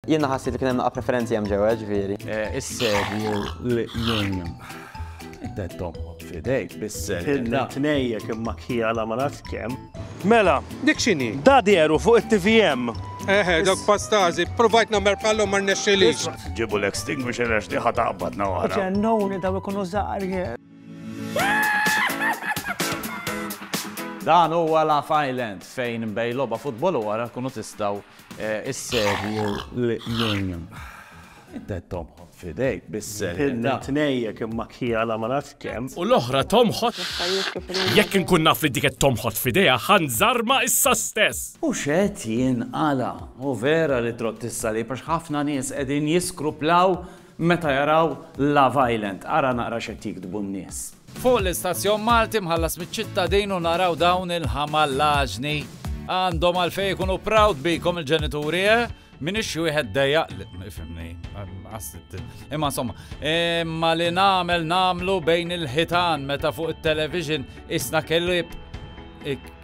Jiena ħassejt li kien hemm naqa' preferenzi hemm ġewwa, ġifieri. Is-serju li jien dettom fidejk bis-ser. Tnejjek imma kjala ma nafx kemm. Mela, dik x'inhi? Da dieru fuq it-TVM. Eħe, dak pastazi, provajt namer pallu mar nexxilix. Ġibu l-extinguisher għax diħa taqbad nawara. Ġennuni daw ikunu zaħri. Dan huwa Love Island fejn bej loba futbol u wara kunu tistaw Is-serju l-union. Inta tomħot fidejk bis-serju. Inna tnejjek imma kija la ma nafx kemm. U l-oħra tomħot. Jekk inkun naf li diket tomħot fideja ħan zarma issa stess. U xed jien għala. U vera li trott issa li pax ħafna nies qegħdin jiskruplaw Meta jaraw Love Island. Ara naqra x'qed jiktbu n-nies. Fuq l-istazzjon Malti mħallas miċ-ċittadin u naraw dawn il-ħamallaġni. Għandhom għalfejn ikunu proud bikom il-ġenituri, eh? Minix xi wieħed dejjaq li ifhimni. Imma insomma, imma li nagħmel nagħmlu bejn il-ħitan meta fuq it-television isna kellieb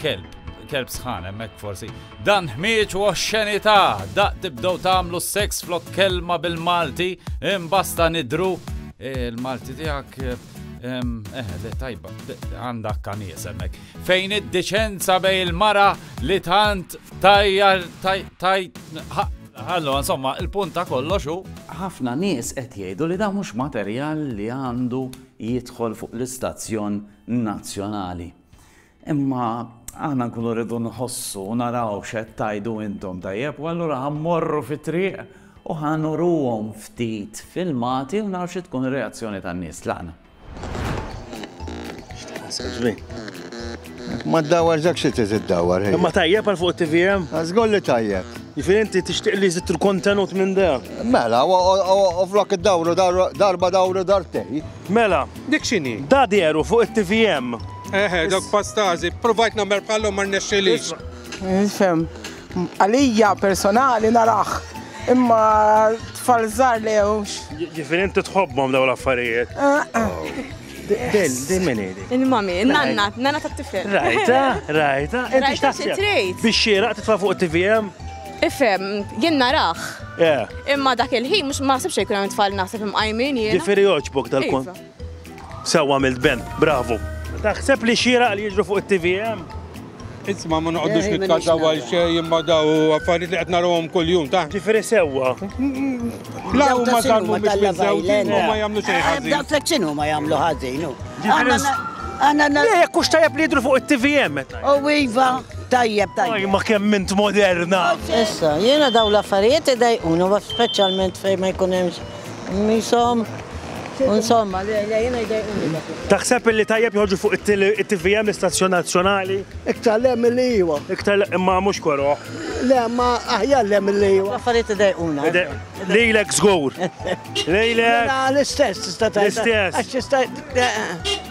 Kelb, kelb sħan hemmhekk forsi. Dan ħmieġ u oxxenità, daq tibdew tagħmlu seks flok kelma bil-Malti, imbasta nidru il-Malti eh, tiegħek eh, le tajba, għanda kamies hemmhekk. Fejn id-deċenza bej il-mara li tant tajja taj Allora, insomma, il-punt ta' kollox hu ħafna nies qed jgħidu li dan mhux materjal li għandu jidħol fuq l-istazzjon nazzjonali. Imma aħna nkunu rridu nħossu u naraw x'qed tgħidu intom, tajjeb? U allura ħa mmorru fit-triq u ħa nuruhom ftit filmati u naraw xi tkun ir-reazzjoni tan-nies. Tlaqna. Ma ddawar dak xi trid iddawar. Imma tajjeb għal fuq it-TVM? Żgur li tajjeb. Jifir inti tixtieq li jżid il-kontenut minn da. Mela, u flok id-dawru darba dawru dartej. Mela. Dik x'inhi? Da dehru fuq it-TVM. Eħe, dawk pastażi. Ppruvajt nagħmel bħalhom ma rnexxilix. Nifhem. Għalija personali narah. Imma tfal żgħar le hux. Ġifieri inti tħobbhom dawn l-affarijiet. Din, din min hi? Il-mami, nanna, nanna tat-tifel. Rajta, rajta. Inti x'taħseb? Biex xieraq titfa' fuq it-TVM? Ifhem, jien narah. Eh. Imma dak il-ħin mhux ma ħsibx jkun hemm tfal naħseb imqajmin jien. Ġifieri joġbok dal-kont. Iva. Sewwa għamilt ben, bravu. Taħseb li xieraq li jiġru fuq it-TVM? Isma ma noqgħodux eh, nitkażaw għal xejn imma daw affarijiet li qed narahom kuljum ta'. Ġifieri sewwa. La huma samu biex miżewġin u ma jagħmlu xejn eh, ħażin. Dak flek x'inhu ma jagħmlu ħażin. Għanna. Jekk hux tajjeb li jidru fuq it-TVM. U iva. Tajjeb, tajjeb. Oj ma kemm int moderna! Issa, jiena dawn l-affarijiet idajquni u speċjalment fejn ma jkun hemmx qmishom u insomma, le, le, jiena jdajquni dak l-affarijiet. Taħseb illi tajjeb joħorġu fuq it-TVM, l-istazzjon nazzjonali? Iktar le milli iwa. Iktar le, imma mhux koroh. Le, imma aħjar le milli iwa. L-affarijiet idajquna. Lilek żgur. Lilek. Mela l-istess tista' tgħid. L-istess. Għax tista'.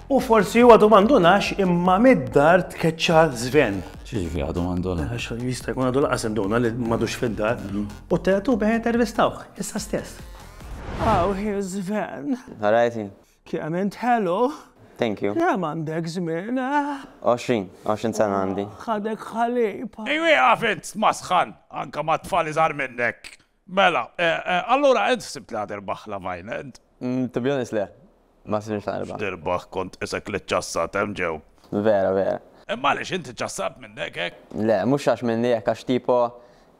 U forsi huwa domandunax imma mid-dar tkeċċa żven. Xiġri għadu mandona. Għax jista' jkun għadu laqas induna li madux fid-dar. Mhm. U tetu bejn intervistawh, issa stess. Aw, hi żven. Għarajti. Kemm int ħelu. Thank you. Kemm għandek żmien, eh? 20, 20 sena għandi. Ħadek ħalib. Ejwi għafint masħan, anka ma tfal iżgħar minnek. Mela, allura int ħsibt li ħa tirbaħ Love Island? To be honest le. Ma ħsibtx li ħa nirbaħ. X'tirbaħ kont qisek li ċċassat hemm ġew. Vera, vera. Imma għaliex int iċċassat minnek hekk? Le, mhux għax minni hekk għax tipo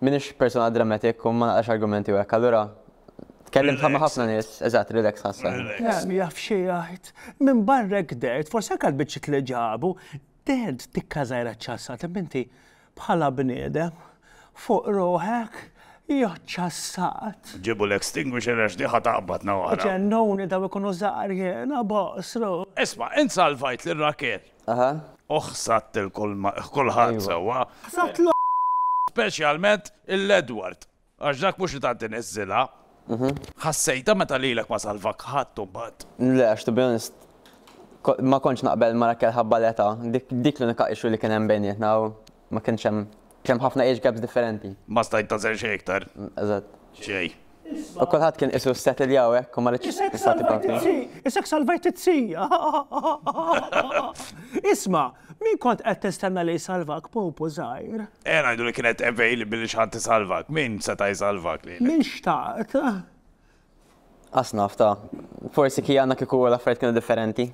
m'iniex persuna dramatic u ma naqrax argumenti u hekk, allura tkellimt bħal ma ħafna nies, eżatt, relaxed ħassejtni. Relaxed. Min jaf xi jgħid. Minbarra hekk dehrt, forsi anke l-biċċiet li ġabu, Tgħid tikka żgħira ċassa, taf inti bħala bniedem fuq ruħek joċċassat. Ġibu l-extinguisher għax di ħa taqbadna wara. Ġennuni daw ikunu żgħar jiena boqsru. Isma', int salvajt lil Rakel. Aha. U ħsadt lil kulħadd sewwa. Ħsadt l. Speċjalment il-Edward. Għax dak mhux li tant iniżżilha. Ħassejtha meta lilek ma salvak ħadd imbagħad? Le, għax to be honest, ma kontx naqbel ma' Raquel ħabba l-età. Dik l-unika issue li kien hemm bejnietna u ma kienx hemm, kien hemm ħafna age gaps differenti. Ma stajt tagħżel xejn iktar? Eżatt. Xejn. U kulħadd kien qisu ssettlja u hekk u ma ridtx nagħti parti. Isek salvajt it-tzi! Isma', Min kont qed tistenna li jsalvak, pupu żgħir? Eh, ngħidu li kienet available li xi ħadd isalvak. Min seta' jsalvak lilek? Min xtaqt? Qas naf ta'. Forsi kien għandna kieku l-affarijiet kienu differenti.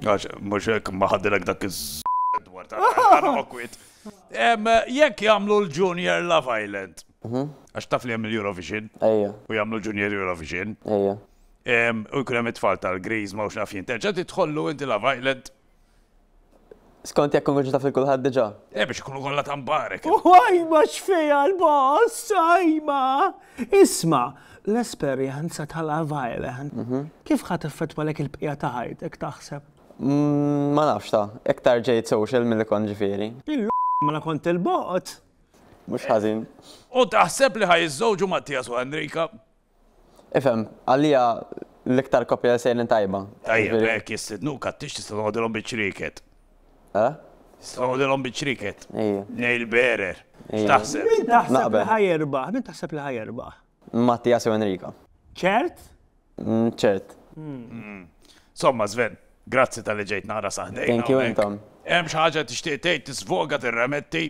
Għax, mhux hekk ma ħadilek dak iż dwar ta' awkwit. Em, Jekk jagħmlu l-Junior Love Island. Għax taf li hemm il-Eurovision Ejja, u jagħmlu Junior Eurovision. ejja. Em, U jkun hemm it-tfal tal-Grease ma hux naf jien. Terġa' tidħollu inti Love Island. Skont jekk konverġu taf il-kulħadd diġà. Eh biex ikunu kollha ta' mbarek. Uħajma x'fejha l-boss, sajma! Isma, l-esperjenza tal-Availand. Mhm. Kif ħadd effettwa lek il-bqija ta' ħajtek taħseb? Mm, ma nafx ta, iktar ġejt social milli kont ġifieri. Il mela kont il-bot. Mhux ħażin. U taħseb li ħaj iżżewġu Mattias u Enrika? Ifhem, għalija l-iktar koppja li sejrin tajba. Tajjeb, hekk jistidnuk għat-tix tista' toqgħodilhom biċ-ċrieket. Eh? Tista' toqgħodilhom biċ-ċrieket. Ejja. Nail bearer. X'taħseb? Min taħseb li ħa jirbaħ? Min taħseb li ħa jirbaħ? Mattias jew Enrico. Ċert? Ċert. Somma, Sven, grazzi tal-li ġejt nara saħdejna. Thank you intom. Hemm xi ħaġa tixtieq tgħid tisvoga tirremetti?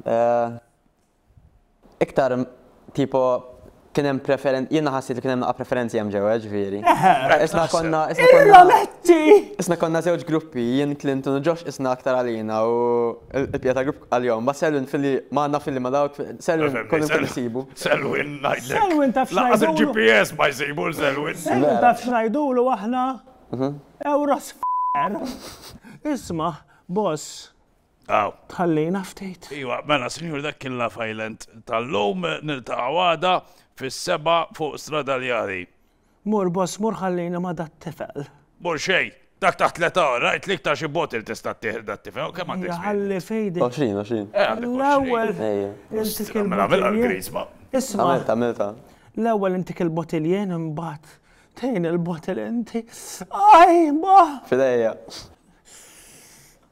Eh, Iktar tipo kien hemm preferen jiena ħassejt li kien hemm naqa' preferenzi hemm ġewwa ġifieri. Eħe, hekk Isna naħseb. konna isna konna Irrometti! isna konna żewġ gruppi, jien Clinton u Josh isna aktar għalina u l- il-bqija tal-grupp għalihom. Imbagħad Selwyn filli ma għandna filli ma dawk, Selwyn Fehmni, kull imkien Sel- isibu. Selwyn ngħidlek. Selwyn taf Lanqas x'ngħidulu? il-GPS ma jsibu l Selwyn. Selwyn Vera. taf x'ngħidulu aħna? Euros f***er. Isma', boss, Aw. Tħallina ftit. Iwa, mela sinjuri dak kien Love Island tal-lum, niltaqgħu għada fis-sebgħa fuq Stradaljari. Mur boss mur ħallina ma' dat-tifel. Mur xejn, dak taħt l-età, rajtlik ta' xi bottle tista' ttieħ lil dat-tifel, kemm għandek żmien? Ħalli f'idek. Għoxrin, għoxrin. Eh għandek għoxrin. L-ewwel intik il-bottle. Isma'. Għamiltha, għamiltha. L-ewwel intik il-bottle imbagħad tgħin il-bottle inti. Ajj, ma! F'idejja.